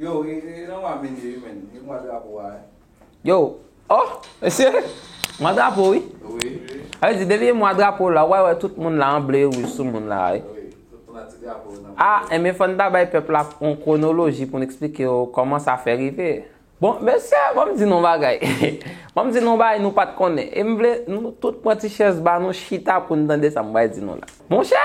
Yow e nan mwa vini wi men, e mwa drapo a e. Yow, oh, mesye, mwa drapo wi. Wi. A ve di depi e mwa drapo la, wè wè tout moun la an ble e wouj sou moun la a e. Wi, tout moun la ti drapo nan. A, e men fòn ta bay pèp la on kwonoloji pou n eksplike yo kòman sa fè rive. Bon, mesye, ban m di nou on bagay. Ban m di nou on bagay nou pa t konnen. E m vle nou tout pran ti chèz ba nou chita pou n tande sa m bay di nou la. Monchè,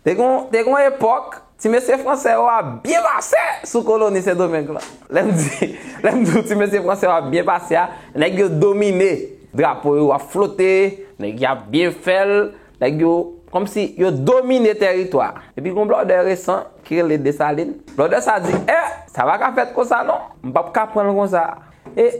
Te gen yon epòk, ti mesye franse yo ap byen pase sou koloni Sendomeng lan. Lè m di, lè m di w ti mesye franse yo ap byen pase a, nèg yo domine. Drapo yo ap flote, nèg yo ap byen fè l, nèg yo, kòm si yo domine tèritwa a. Epi gen yon blòdè resan ki rele Desalin. Blòdè sa a di, e, sa pa ka fèt kon sa non. M p ap ka pran l kon sa. E,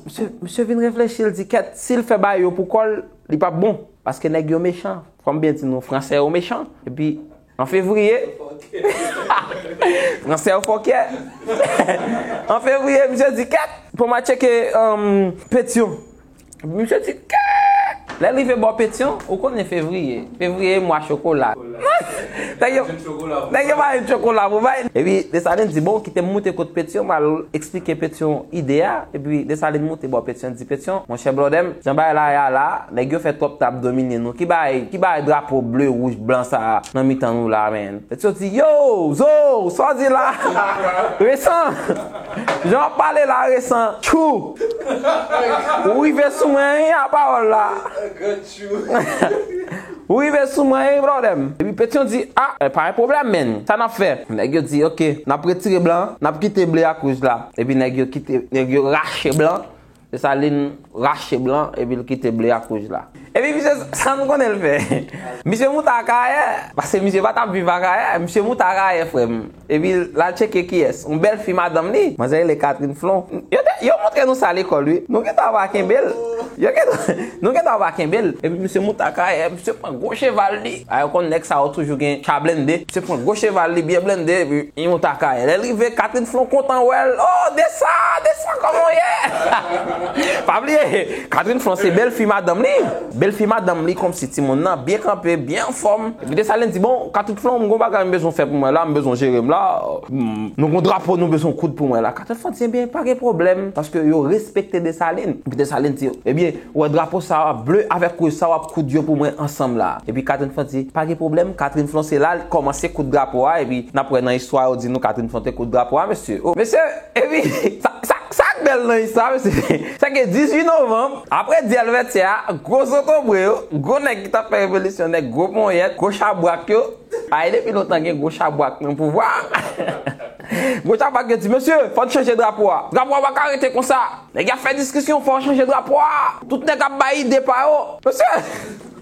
misye, misye vin reflechi, l di kèt, si l fè bagay yo pou kò l, li p ap bon. Paske nèg yo mechan. Kom byen di nou fransè yo mechan epi an fevriye fransè yo fòkè an fevriye misye di kèk pou ma tcheke petyon misye di kèk lè rive bò petyon ou konnen fevriye fevriye mwa chokola nèg yo nèg yo bay chokola pou bay epi desalin di bon kite m moute kot petyon m al esplike petyon ide a epi desalin moute bò petyon. Ti Petion, Monchè blòdè m, jan bagay la ye a la, nèg yo fè twòp tab domine nou. Ki bagay, ki bagay drapo ble, wouj, blan sa a nan mitan nou la a menn? Petion di, Yow! Zoow! Sa w di la a, Resan! Jan w ap pale la a, Resan! Tchou! Ou rive sou mwen wi a pawòl la a. Ou rive sou mwen e yon pwoblèm. Epi Petion di, a, e pa yon pwoblèm menn, sa n ap fè? Nèg yo di, ok, n ap retire blan an, n ap kite ble ak wouj la. Epi nèg yo kite, nèg yo rache blan an. Desalin rache blan an epi l kite ble ak wouj la. Epi misye, sa nou konnen l fè? Misye moute Akayè, pase misye pa t ap viv Akayè. Misye moute Akayè, frè m. Epi l al tcheke kiyès. Yon bèl fi madanm li. Manzè rele Catherine Flon. Yo te, yo montre nou sa lekòl wi. Nou gen tan va kenbe l. Yo gen tan, nou gen tan va kenbe l. Epi misye moute akayè. Misye pran gwo cheval li. A yo konn nèg sa yo toujou gen cha blende. Misye pran gwo cheval li byen blende epi li moute akayè. Lè l rive, Catherine Flon kontan wè l. O! Desa! Desa kòman w ye? Pa bliye, Catherine Flon se bèl fi madanm li. Bèl fi madanm li konmsi timoun nan byen kanpe, byen anfòm. Epi Desalin di, bon, Katoutlon, m gon bagay m bezwen fè pou mwen la, m bezwen jere m la. Nou gon drapo nou bezwen koud pou mwen la. Katoutlon di, ebyen, pa gen pwoblèm, paske yo respekte Desalin. Epi Desalin di, ebyen, ou wè drapo sa a, ble avèk wouj sa a, w ap koud yo pou mwen ansanm la. Epi Katoutlon di, pa gen pwoblèm, Katoutlon se la li kòmanse koud drapo a, epi n ap wè nan istwa yo di nou Katoutlon te koud drapo a, mesye. O, mesye, epi, sa, sa, sa k bèl nan istwa a, mesye, se ke 18 novanm, apre dyèl Vètyè a, gwo zotobre yo, gwo nèg. ki tap fè revolisyon nèg gwo ponyèt, gwo chabwak yo, ay depi lontan gen gwo chabwak nan pouvwa, gwo chabwak yo di mesye fòn chanje drapo a, drapo a paka rete konsa, nèg yo ap fè diskisyon fò chanje drapo a, tout nèg ap bay ide pa yo, mesye,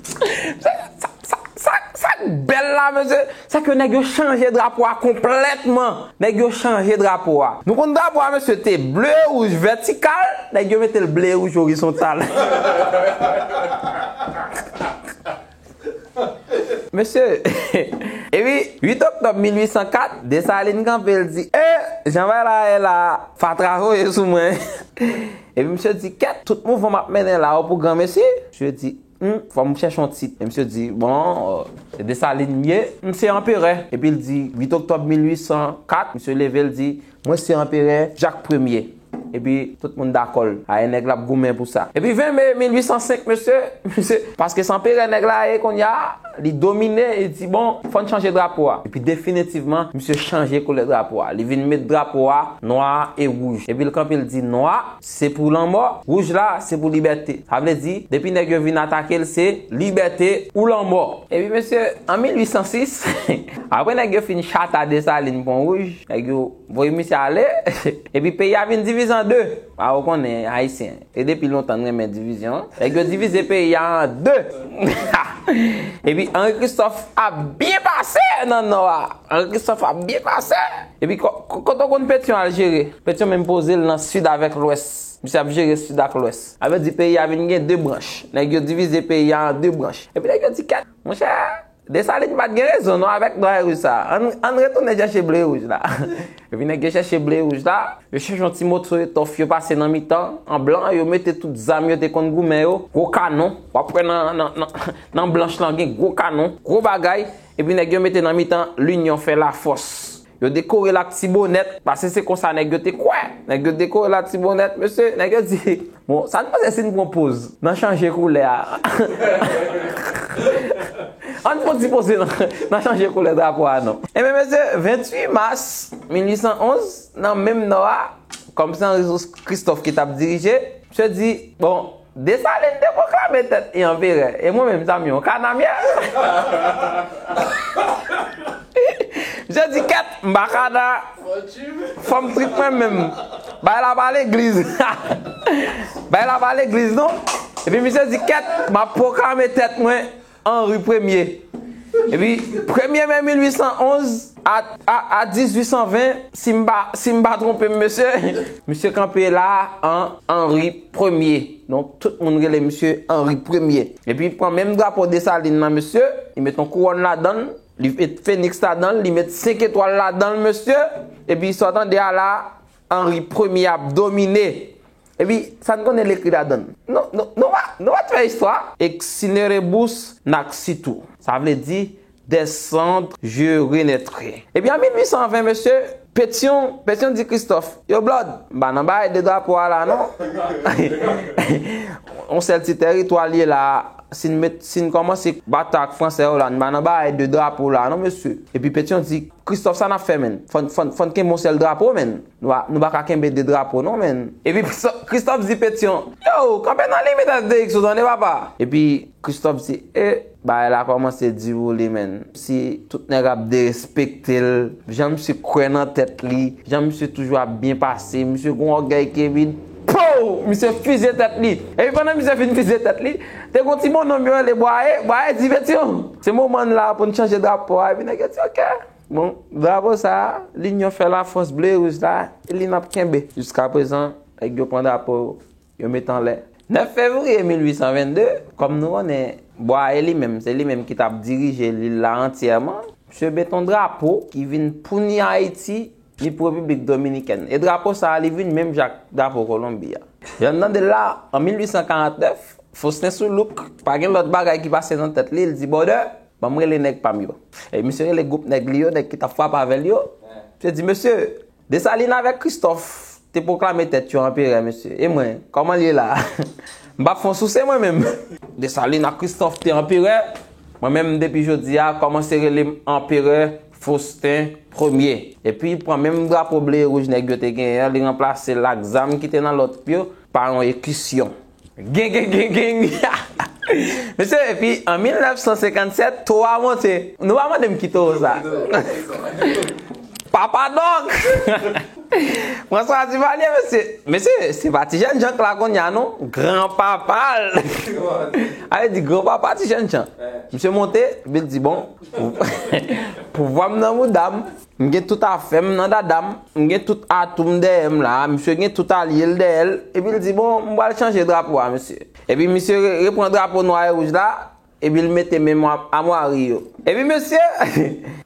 mesye sa, sa, sa, sak bèl la mesye. Sa ke nèg yo chanje drapo a konplètman. Nèg yo chanje drapo a. Nou konn drapo a mesye te ble rouj vètikal, nèg yo mete l ble rouj orizontal. Mesye, epi 8 oktòb 1804, Desalin kanpe l di, E, jan bagay la ye la a, fatra voye sou mwen. Epi misye di, Kèt, tout mouvman m ap mennen la a pou granmesi? Misye di. Hum fò m chèche yon tit. E misye di, bon, se Desalin m ye. M se anperè. Epi l di, 8 oktòb 1804, misye leve l di, mwen se anperè Jak Premye. Epi tout moun dakò l. A e nèg la ap goumen pou sa. Epi 20 me 1805 mesye, misye, paske se anperè nèg la ye kounye a, li domine, li di, bon, fò n chanje drapo a. Epi definitivman, misye chanje koulè drapo a. Li vin met drapo a nwa e wouj. Epi l kanpe l di, nwa, Se pou lanmò, wouj la se pou libète. Sa vle di, depi nèg yo vin atake l se libète ou lanmò. Epi mesye, an 1806, apre nèg yo fin chata Desalin pon wouj, nèg yo voye misye ale, epi peyi a vin divize an 2. A ou konnen, Ayisyen, se depi lontan n renmen divizyon. Nèg yo divize peyi a an 2. Epi Anri Kristòf ap byen pase nan Nò a. Anri Kristòf ap byen pase. Epi kote w konn Petion al jere? Petion menm poze l nan Sud avèk Lwès. Misye ap jere Sud ak Lwès. Sa vle di peyi a vin gen 2 branch. Nèg yo divize peyi a an 2 branch. Epi nèg yo di kèt! Monchè, Dessalines pa t gen rezon non avèk Nwa e Wouj sa a. Ann retounen chèche Ble e Wouj la. Epi nèg yo chèche Ble e Wouj la. Yo chèche yon ti moso etòf yo pase nan mitan an blan. Yo mete tout zam yo te konn goumen yo. Gwo kanon. W ap wè nan blanch lan gen gwo kanon. Gwo bagay. Epi nèg yo mete nan mitan linyon fè lafòs. Yo dekore latibonèt, pase se konsa nèg yo te kwè. Nèg yo dekore latibonèt, mesye, nèg yo di, bon, sa n panse si n pran poz nan chanje koulè a? An n pran ti poze nan chanje koulè drapo a non. Enben mesye, 28 mas 1811, nan menm nò a, kòm se Anri Kris Kristòf ki t ap dirije, misye di, bon, Desalin te pwoklame tèt li anperè, e mwen menm sa m yon kanamyè! Misye di kèt, m pa kana, fò m trip mwen menm. Bagay la pa legliz. Bagay la pa legliz non. Epi misye di kèt, m ap pwoklame tèt mwen. Henri Premye. Epi, Premye Me 1811 a 1820, si m pa, si m pa twonpe m mesye. Misye kanpe la a an Henri Premye. Donk, tout moun rele misye Henri Premye. Epi, li pran menm drapo Desalin lan mesye, li met yon kouwòn ladan l, li met feniks ladan l, li met senk etwal ladan l mesye. Epi, sa w tande a la a, Henry premye ap domine. Epi sa n konnen l ekri ladan l. Nou nou nou pa nou pa t fè istwa. Excinerebus naxitou. Sa vle di, Des cendres je renaîtrai. Epi an 1820 mesye, Pétion, Pétion di Christophe, Yo Blòd, m pa nan bagay de drapo a la non. Yon sèl ti tèritwa l ye la a. Si n met si n kòmanse batay ak Fransè yo la, n pa nan bagay de drapo la non mesye. Epi Pétion di. Christophe sa nap fè menn? Fòn kenbe yon sèl drapo menn. Nou pa ka kenbe 2 drapo non menn. Epi Christophe di Petion, Yow, kanpe nan limit Astérix ou tande papa. Epi Christophe di, Eh, bagay la kòmanse di pou li menn. Si tout nèg ap derespekte l, jan misye kwè nan tèt li, jan misye toujou ap byen pase, misye gon ògèy kebid. Pouw! Misye fize tèt li. Epi pandan misye fin fize tèt li, te gon ti bononm yo rele Bwaye, Bwaye di Petion, se moman n la pou n chanje drapo a. Epi nèg yo di ok. Bon, drapo sa a, linyon fè lafòs ble e wouj la, e li n ap kenbe. Jiskaprezan, nèg yo pran drapo yo, yo met anlè. 9 fevriye 1822, kòm nou konnen, Bwaye li menm, se li menm ki t ap dirije lil la antyèman, misye met on drapo ki vin pouni Ayiti Ni pou Repiblik Dominikèn. E drapo sa a li vin menm jan ak drapo Kolonbi a. Jan n tande l la, an 1849, Faustin Soulouque pa gen lòt bagay ki pase nan tèt li, li di Bòdè, ban m rele nèg pa m yo. E misye rele gwoup nèg li yo, nèg ki t ap frape avè l yo, misye di, Mesye, Dessalines avèk Christophe te pwoklame tèt yo anperè, mesye, e mwen, kòman l ye la a? M pa fon souse mwen menm? Dessalines ak Christophe te anperè, mwen menm depi jodi a, kòmanse rele m anperè. Faustin Premier. Epi pran menm drapo ble e rouj nèg yo te genyen an, li ranplase l ak zam ki te nan lòt yo, pa yon ekisyon. Gengengengeng! Mesye, epi an 1957, towo a monte. Nou pa mande m ki towo sa a. Papa Dòk! François Duvalier, mesye! Mesye, se pa ti jèn jan k la kounye a non. Gran papa l! Sa vle di gran papa ti jèn jan. Misye monte, epi l di bon. Pouvwa m nan mouda m. M gen tout afè m nan dada m. M gen tout atou m dèyè m la a. Misye gen tout alye l dèyè l. Epi l di, bon, m pral chanje drapo a, mesye. Epi misye repran drapo nwa e wouj la, epi l mete menm amwari yo. Epi mesye,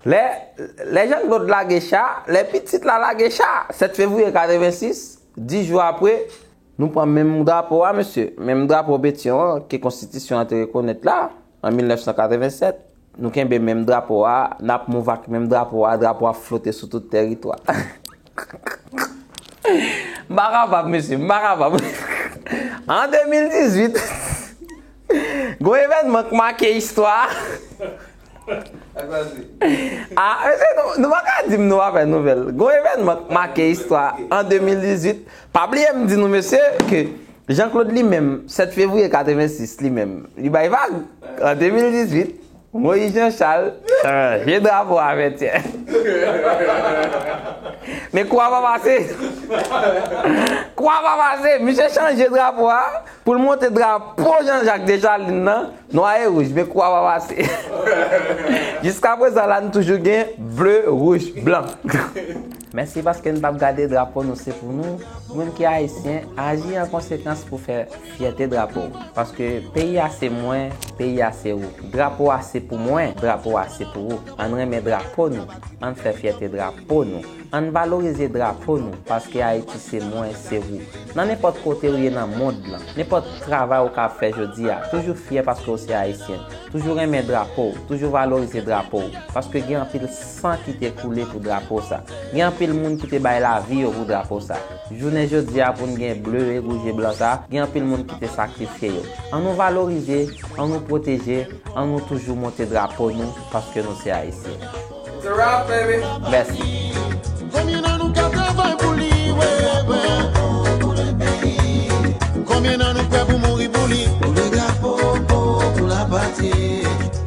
lè Jan Klod lage cha, lè pitit la lage cha, 7 fevriye 86, dis jou apre, nou pran menm drapo a, mesye. Menm drapo Petyon an, ke konstitisyon an te rekonèt la. An 1987, nou kenbe menm drapo a, n ap move ak menm drapo a, drapo a ap flote sou tout tèritwa. M pa kapab mesye, m pa kapab. An 2018, gwo evènman k make istwa. Sa k pase? A, mesye nou pa ka di m nou pa fè nouvèl. Gwo evènman k make istwa an 2018. Pa bliye m di nou mesye ke Jean Claude li menm, 7 fevriye 86 li menm, li bay vag! An 2018, Moïse Jean Charles chanje drapo a Vètyè. Men kwa pa pase! Kwa pa pase! Misye chanje drapo a pou l monte drapo Jean Jacques Desjardins nan, nwa e wouj, men kwa pa pase! Jiskaprezan la nou toujou gen ble, wouj, blan. Mèsi paske n pap gade drapo nou se pou nou moun ki ayisyen aji an konsekans pou fè fyète drapo w paske peyi a se mwen peyi a se ou drapo a se pou mwen drapo a se pou ou ann renmen drapo nou ann fè fyète drapo nou ann valorize drapo nou paske ayiti se mwen se ou nan nenpòt kote ou ye nan mond lan nenpòt travay ou ka ap fè jodi a toujou fyè paske ou se ayisyen toujou renmen drapo w toujou valorize drapo w paske gen anpil San ki te koule pou drapo sa. Gen anpil moun ki te bay lavi yo pou drapo sa. Jounen jodi a pou n gen ble e wouj e blan sa, gen anpil moun ki te sakrifye yo. An nou valorize, an nou pwoteje, an nou toujou monte drapo nou paske nou se Ayisyen. It's a wrap baby! Mèsi!